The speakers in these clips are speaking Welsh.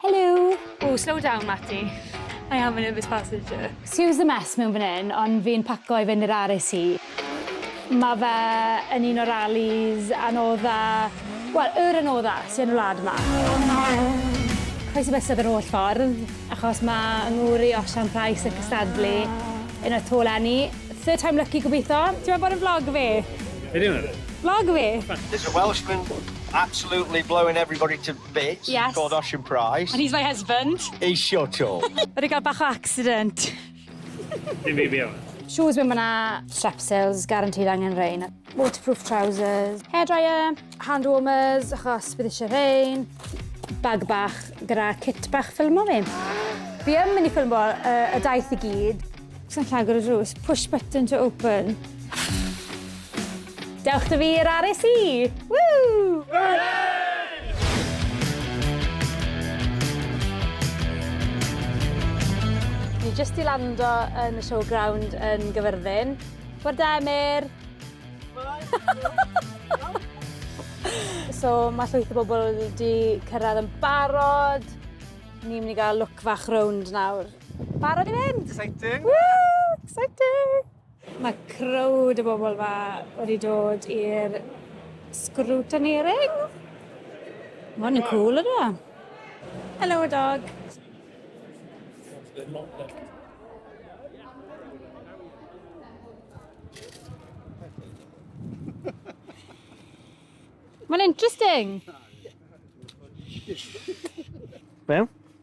Helo! Ooh, slow down Mati. I am a nervous passenger. Excuse the mess mewn fan hyn, ond fi'n paco i fynd i'r RAC. Mae fe yn un o'r rallies anodda, wel, yr anodda sy yn y wlad yma. Croesi bysedd yr holl ffordd, achos mae 'y ngŵr i Osian Price yn cystadlu yn y Tô leni. Third time lucky gobitho. Ti moyn bod yn vlogger fi? Be 'di hwn? Vlogger fi! There's a Welshman absolutely blowing everybody to Bit. Yes. Got off your price. And he's my husband. Ei shot o. Mae 'di cael bach o accident. Dim fi fi Shoes mewn ma'na. Strepsils, guaranteed angen rein. Waterproof trousers. Hairdryer, hand warmers, achos bydd eisiau rein. Bag bach gyda kit bach ffilmo fi. Fi yn mynd i ffilmo uh, y daith i gyd. Os naill agor y drws, push button to open. Dewch da fi i'r RSC! Woo! Hooray! jyst i lando yn y showground yn Gyfyrddin. Bore da, Emyr! so mae llwyth o bobl wedi cyrraedd yn barod. Ni'n mynd i gael look fach rownd nawr. Barod i fynd! Exciting! Woo! Exciting! Mae crowd y bobl fa wedi dod i'r scrutineering. Mae hwn yn cool yna. Hello, dog. Mae'n interesting. Wel,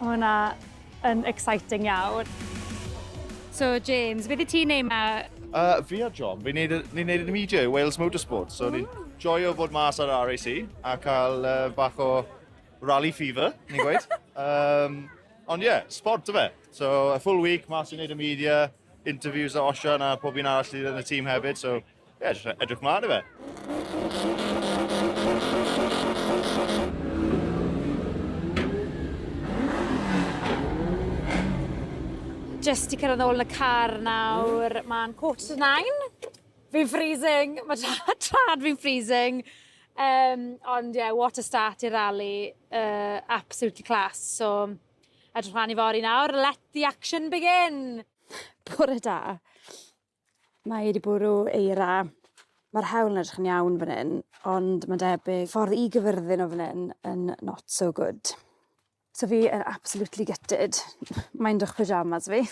Mae hwnna yn exciting iawn. So James, beth i ti'n neud ma? Uh, fi a John, fi'n neud, ni neud yn media i Wales Motorsport, so ni'n joio fod mas ar RAC a cael uh, bach o rally fever, ni'n gweud. um, ond ie, yeah, sport yfe. So, a full week, mas i neud y media, interviews a Osian a pob un arall sydd yn y tîm hefyd, so Ie, jyst edrych mlaen i fe. Jyst i cyrraedd ôl yn y car nawr, mae'n quarter to nine. Fi'n freezing, mae tad fi'n freezing. Um, ond ie, yeah, what a start i'r rally. Uh, absolutely class. So, edrych mlaen i fori nawr. Let the action begin! Bore da. Mae wedi bwrw eira. Mae'r hewl yn edrych yn iawn fan hyn, ond mae'n debyg ffordd i gyfyrddin o fan hyn yn not so good. So fi yn absolutely gutted. Mae'n dych pyjamas fi.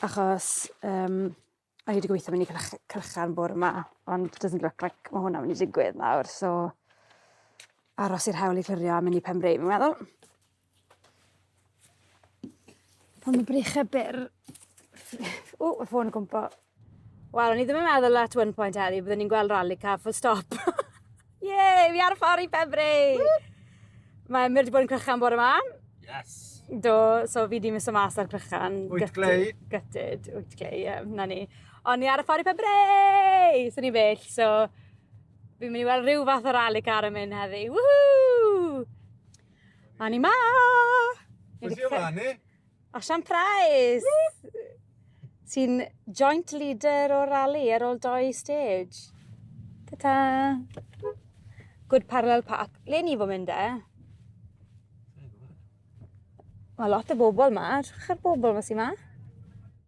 Achos um, o'n i wedi gweithio mynd i Cylchan bore yma, ond doesn't look like mae hwnna'n mynd i digwydd nawr, so aros i'r hewl i clirio a mynd i pen breu, fi'n meddwl. Pan mae breichau byr... O, y ffôn yn cwmpo. Wel, o'n i ddim yn meddwl at one point heddi, byddwn ni'n gweld rally car full stop. Ie, fi ar y ffordd i Pembre! Mae Emyr wedi bod yn crychan bore yma. Yes. Do, so fi di mis o mas ar crychan. Wyt glei. Gytid, wyt glei, ie, na ni. O'n ni ar y ffordd i Pembre! So ni bell, so fi'n mynd i weld rhyw fath o rally car yn mynd heddi. Woohoo! A ni ma! Beth yw fan ni? Osian Prize! Sy'n joint leader o'r rally ar ôl doi stage. Ta-ta! Good Parallel Park. Le ni fo mynd e? Mae lot o bobl ma. Edrych ar bobl ma sy'n ma.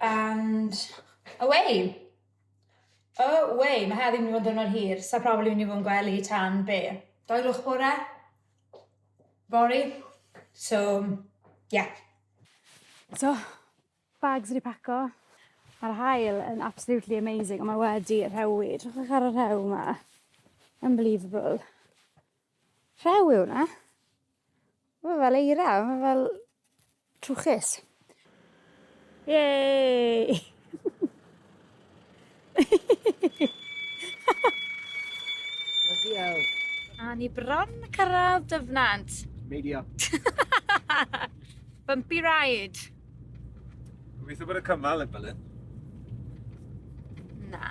And away! O wei, ma' heddi'n myn' i fod yn diwrnod hir, sa probably myn' i fod yn gwely tan be'? Dau o'r gloch bore? Fory. So, ie. So, bags wedi paco. Ma'r haul yn absolutely amazing, ond mae wedi rhewi. Edrychwch ar y rhew 'ma. Unbelievable. Rhew yw hwnna. Mae fel eira, mae fel trwchus. Yay! Diolch. A ni bron yn cyrraedd Dyfnant. Meidio. Bumpy ride. Gobeithio bod y cymal yn bylid. Na.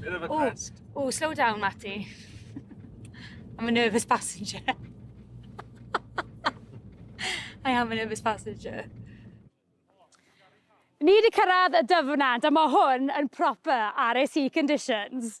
Bit of a crest. Ooh, ooh, slow down, Matty. I'm a nervous passenger. I am a nervous passenger. Ni wedi cyrraedd y dyfnant, a mae hwn yn proper RAC conditions.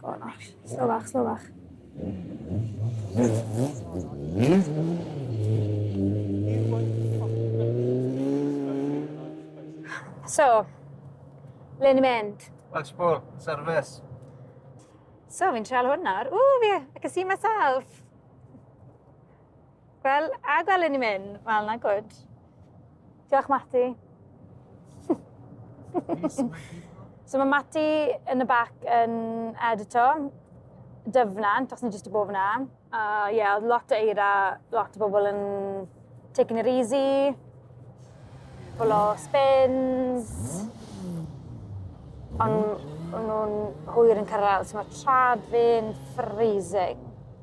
Go on, Ash. Slow bach, slow bach. So, le ni'n mynd? Watchpool, service. So, fi'n treol hwn nawr. Ooh, yeah, I can see myself. Wel, a gwelwn ni mynd? Wel, na gwyd. Diolch, Mati. so mae Mati yn y bac yn edito dyfnant, os ni jyst i bob yna. A uh, ie, yeah, lot o eira, lot o bobl yn taking it easy, bobl o spins, ond nhw'n hwyr yn cyrraedd, so mae trad fi'n freezing.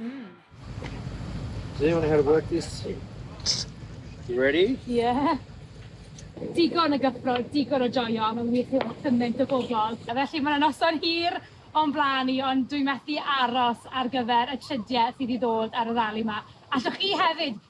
mm. Does anyone how to work this? You ready? Yeah. Digon o gyffro, digon o joio, mae'n wych i weld cymaint o bobl. A felly mae'n noson hir o'n blaen i, ond dwi'n methu aros ar gyfer y trydiau sydd i ddod ar y rali yma. Allwch chi hefyd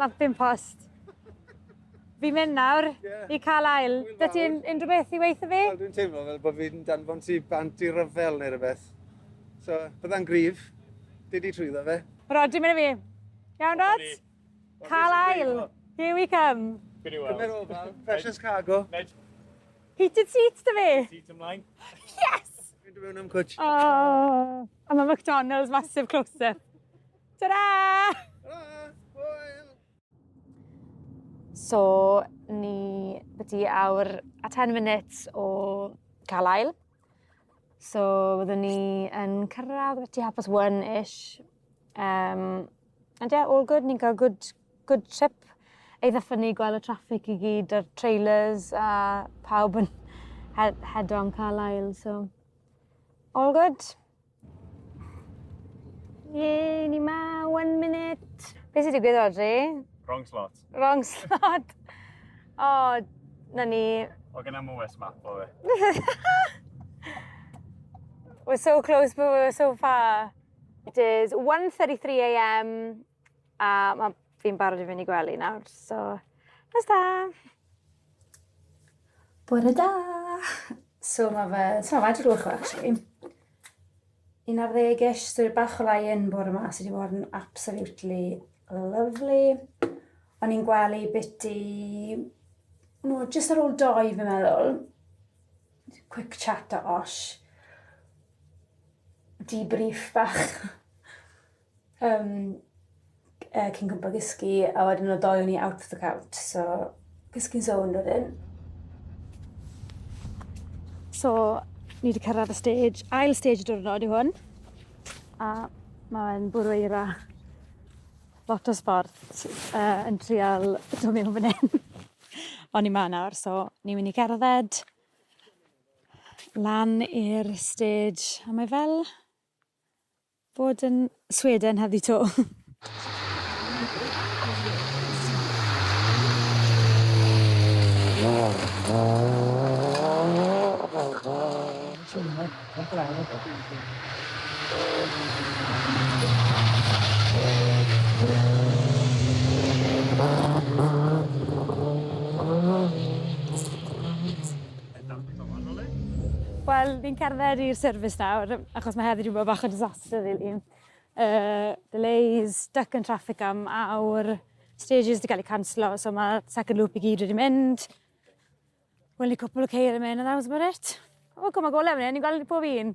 Lampyn post. Fi'n mynd nawr yeah. i cael ail. Dwi ti'n unrhyw beth i weithio fi? Wel, dwi'n teimlo fel bod fi'n danfon ti bant i ryfel neu rhywbeth. So, byddai'n grif. Dwi di trwyddo fe. Rod, dwi'n mynd i fi. Iawn, Rod? Cael ail. Here we come. Gwni weld. Gwni ofal. Precious cargo. Heated seats, dy fi. Seats ymlaen. Yes! Dwi'n mynd am cwtch. Oh, am y McDonald's massive close-up. Ta-ra! So, ni wedi awr a 10 minutes o cael ail. So, byddwn ni yn cyrraedd beti hapus one-ish. Um, and yeah, all good. Ni'n cael good, good trip eitha ffynnu gweld y traffic i gyd a'r trailers a pawb yn head, head on Carlisle, so all good. Ie, ni ma, one minute. Be sy'n digwydd Rodri? Wrong slot. Wrong slot. O, oh, na ni. O, gyda mwys map o fe. we're so close but we're so far. It is 1.33am A ma' fi'n barod i fynd i gwely nawr, so nos da! Bore da! So mae fe, so mae wedi rwch o actually. Un ar ddeg-ish, so bach o lai yn bore yma, sydd wedi bod yn absolutely lovely. O'n i'n gwely biti, no, just ar ôl doi fi'n meddwl. Quick chat o osh. Debrief bach. Um, uh, cyn gwybod gysgu, a wedyn o doi o'n i out of the count, so gysgu'n zone wedyn. So, ni wedi cyrraedd y stage, ail stage y diwrnod i hwn, a mae'n bwrw eira lot o sport uh, yn trial dod mewn fan hyn. O'n i ma nawr, so ni'n mynd i gerdded lan i'r stage, a mae fel Bod yn Sweden heddi to. Wel, ni'n cerdded i'r service nawr, achos mae heddi rhywbeth bach o disaster, really. Uh, delays, stuck yn traffic am awr, stages wedi cael eu canslo, so mae second loop i gyd wedi mynd. Wel, ni cwpl o ceir yn mynd, and that was about it. O, cwm o gole fan hyn, ni'n gweld pob un.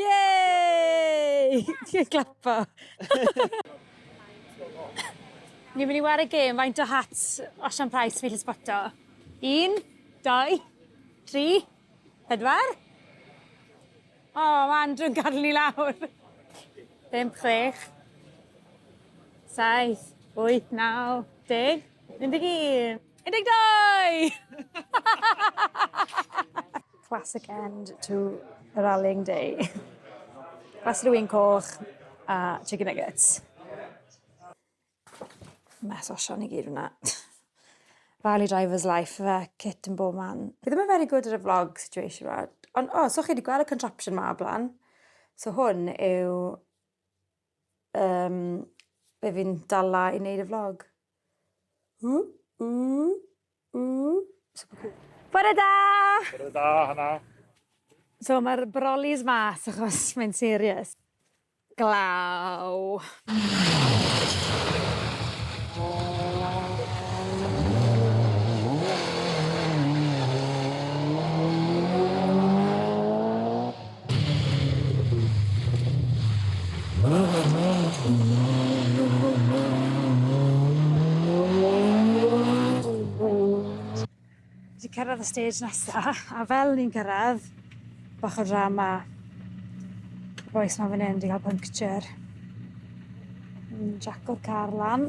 Yay! Ti'n clapo. Ni'n mynd i wario gêm faint o hats Osian Price fi'n gallu sboto. Un, dau, tri, pedwar. O, oh, mae Andrew'n gadw ni lawr. Bimp, chwech, saith, wyth, naw, deg, un deg un. 12! Classic end to a rallying day. Glas rwy'n coch a chicken nuggets. Mess o Sian i gyd fyna. Rally driver's life fe, kit yn bob man. Fi ddim yn very good ar y vlog situation ma. Ond o, oh, so chi wedi gweld y contraption ma o blaen? So hwn yw um, be fi'n dala i wneud y vlog. Ww, ww, ww. Bore da! Bore da, hana. So mae'r brolly's mas achos mae'n serious. Glaw. Wedi cyrraedd y stage nesaf, a fel ni'n cyrraedd, bach o drama. Y boes ma fan hyn wedi cael puncture. Yn jaco'r car lan.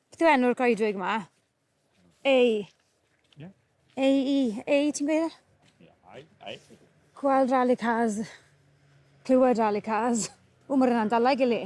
Beth yw enw'r goedwig yma? Ei. Yeah. Ei, i. Ei, ti'n gweud? Yeah, I, I. Gweld rally cars. Clywed rally cars. O, mae'r yna'n dalau gili.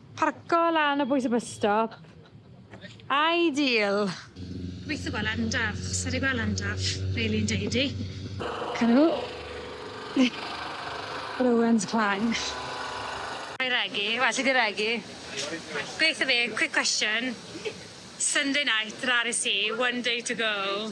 Parco lan o bwys y bus stop. Ideal! Gobeithio gweld Endaf. Sa i 'di gweld Endaf, fel un deud i. Canu. Rowen's Clang. Ai regi? Well i di regi. Gobeithio fi. Quick question. Sunday night, raris i, one day to go.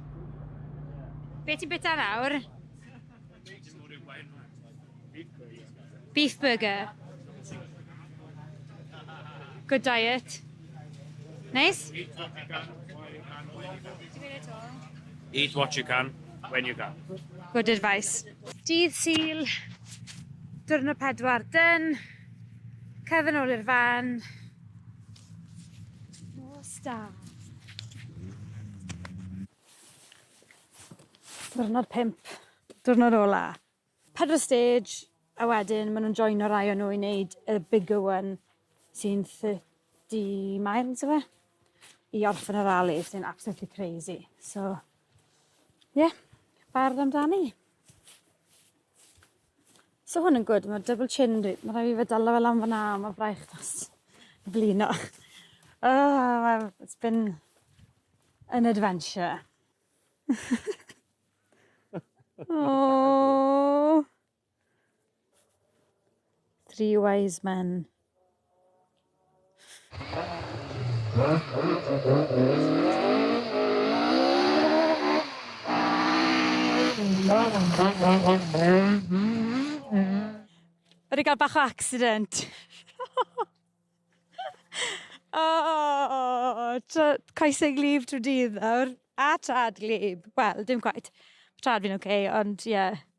Be ti'n bita nawr? Beef burger. Good diet. Neis? Eat what you can, when you can. Good advice. Dydd Sul, diwrnod pedwar dyn, cefn ôl i'r fan, Da. Diwrnod pimp. Diwrnod ola. Pedwar stage, a wedyn ma' nhw'n joino rai o nhw i wneud y bigger one sy'n 30 miles yw e? I orffen y rali sy'n absolutely crazy. So, ie, yeah, bardd amdani. So hwn yn gwyd, mae double chin, mae rhaid i fe dala fe lan fyna, mae braich dros blino. Oh, well, it's been an adventure. oh. Three wise men. Wedi cael bach o accident. o, tra- coesau glib trwy dydd nawr. A tad glib. Wel, dim quite. Mae tad fi'n oce, ond ie.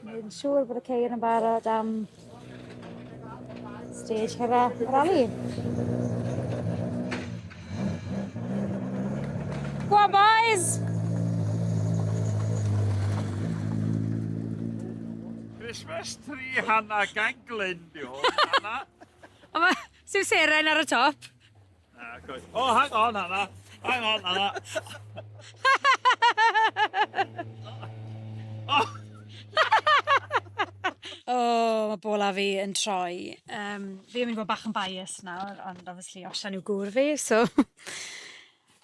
Dwi'n siŵr bod y ceir yn barod am stage cyfa rali. Go on boys! Christmas tree Hannah Ganglin, diolch Hannah. Ond mae Sir Seren ar y top. Ah, coes. Oh, hang on, Anna. Hang on, Anna. oh. oh, mae bola fi yn troi. Um, fi yn mynd i fod bach yn bias nawr, ond obviously osian yw gŵr fi, so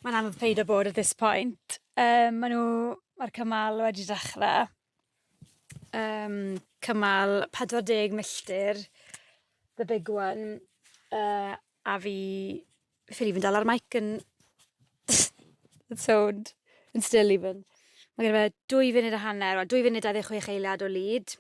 mae'n anodd peid o bod at this point. Um, mae nhw, mae'r cymal wedi dechrau. Yym cymal 40 milltir the big one yy a fi ffili fyn dal ar mic yn yn sownd yn still even. Ma' gyda fe dwy funud a hanner wel dwy funud a dau ddeg chwech eiliad o lead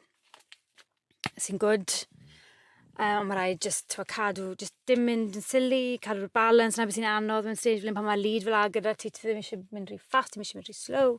sy'n gwd yy on' ma' raid jyst t'mo' cadw jyst dim mynd yn silly cadw'r balans 'na be' sy'n anodd mewn stage fel 'yn pan ma' lead fel 'a gyda ti ti ddim isie mynd rhy fast ti'm isie mynd rhy slow.